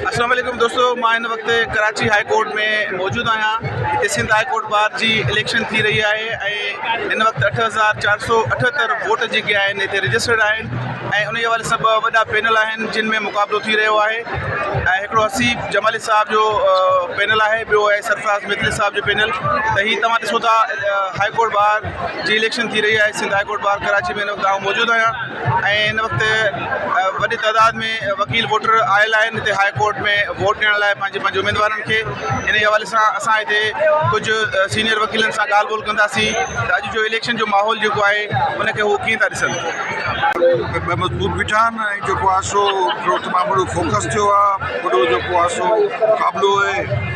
اسلام عليڪم دوستو مان هن وقت ڪراچي هاء ڪورٽ ۾ موجود آهيان هتي سنڌ هاء ڪورٽ بار جي اليڪشن ٿي رهي آهي ۽ هن وقت اٺ هزار چار سو اٺهتر ووٽ جيڪي آهن هتي رجسٽرڊ آهن ۽ ان حوالي سان ٻه وڏا پينل آهن جن ۾ مقابلو ٿي رهيو آهي ۽ هڪڙو حسيب جمالي صاحب جو پينل آهي ٻيو آهي سرفراز متل صاحب جو پينل ته هي توهان ڏسو ٿا هاء ڪورٽ بار جي اليڪشن ٿي رهي آهي Sindh high court bar Karachi ۾ هن وقت آئون موجود آهيان ۽ هن وقت وڏي تعداد ۾ وڪيل ووٽر آيل آهن هتي هاء ڪورٽ ۾ ووٽ ڏيڻ لاء پنهنجي پنهنجي اميدوارن کي ان جي حوالي سان اسان هتي ڪجهه سينيئر وڪيلن سان ڳالهه ٻولهه ڪنداسين ته اڄ جو اليڪشن جو ماحول جيڪو آهي ان کي هو ڪيئن ٿا ڏسن ۾ مضبوط بيٺا آهن ۽ جيڪو آهي سو تمام وڏو فوڪس ٿيو آهي وڏو جيڪو آهي سو مقابلو اهي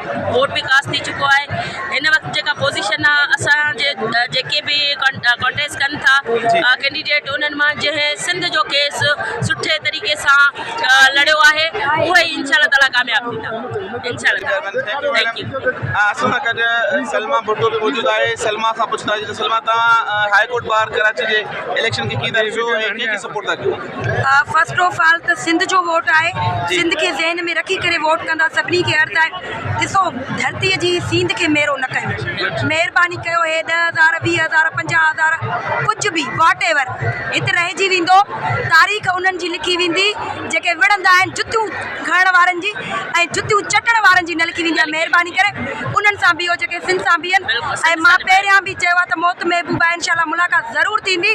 ووٽ به ڪاسٽ ٿي چڪو آهي هن وقت جيڪا پوزيشن آهي اسان جي جيڪي به ڪنٽيسٽ ڪن ٿا ڪينڊيڊيٽ انهن مان جنهن سنڌ جو ڪيس سٺي طريقي سان لڙيو آهي اهي ئي انشاء الله تعالي ڪامياب ٿيندا انشاء الله ٿينڪ يو اسان سان گڏ سلما ڀٽو به موجود آهي سلما کان پڇنداسين ته سلما تان هاء ڪورٽ ٻار ڪراچي جي اليڪشن کي ڪيئن ٿا ڏسو ۽ ڪنهن کي سپورٽ ٿا ڪيو فرسٽ آف آل ته سنڌ جو ووٽ آهي سنڌ کي ذهن ۾ رکي ڪري ووٽ ڪندا سڀني کي عرض آهي ڏسو ڌرتي جي سينڌ کي ميرو نه ڪيو مهرباني ڪيو هي ڏهه هزار ويهه هزار پنجاهه هزار ڪجهه به واٽ ايور هت رهجي ويندو تاريخ انهن جي لکي ويندي جيڪي وڙهندا آهن جتيون کڻڻ وارن جي ۽ جتيون چٽڻ وارن جي نه لکي ويندي آهي مهرباني ڪري انهن سان بيهو جيڪي سنڌ سان بيهن ۽ مان پهريان به چيو آهي ته موت محبوب آهي انشاء الله ملاقات ضرور ٿيندي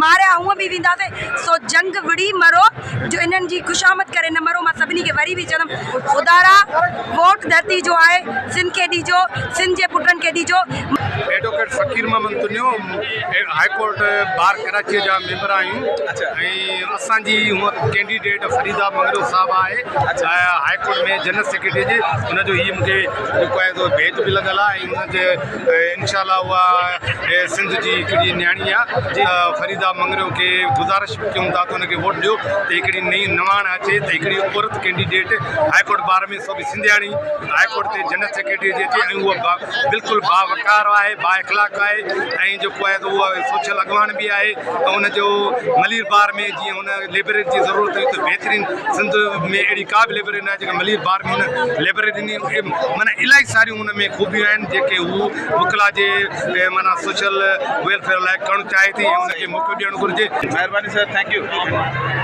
ماريا هونء به وينداسين، سو جنگ وڙهي مرو، جو انهن جي خوشامد ڪري نه مرو، مان سڀني کي وري به چوندم، خدا را ووٽ ڌرتي جو آهي، سنڌ کي ڏيجو، سنڌ جي پٽن کي ڏيجو. Advocate Faqir Muhammad Tunio, high court bar ڪراچيء جا ميمبر آهيون ۽ اسان جي هونء ڪينڊيڊيٽ فريده مڱريو صاحب آهي هاء ڪورٽ ۾ جنرل سيڪريٽريء جي، ان جو هي مون کي جيڪو آهي سو ڀيت به لڳل آهي ۽ ان جي انشاء الله اها سنڌ جي هڪڙي نياڻي آ فريدا مڱريو کي گذارش به ڪيون ٿا ته ان کي ووٽ ڏيو ته هڪڙي نئين نواڻ اچي ته هڪڙي عورت ڪينڊيڊيٽ هاء ڪورٽ بار ۾ سو به سنڌياڻي هاء ڪورٽ تي جنرل سيڪريٽري جي اچي ۽ اها بلڪل با وقار آهي با اخلاق آهي ۽ جيڪو آهي ته اها سوشل اڳواڻ به آهي ته ان جو ملير بار ۾ جيئن ان ليبرري جي ضرورت هئي ته بهترين سنڌ ۾ اهڙي ڪا به ليبرري نه آهي جيڪا ملير بار ۾ ان ليبرري ڏني معنيٰ الاهي ساريون ان ۾ خوبيون آهن جيڪي هو وڪلا جي معنيٰ سوشل ويلفيئر لاء ڪرڻ چاهي ٿي ۽ ان کي موقعو ڏيڻ گهرجي. مهرباني سر ٿينڪ يو.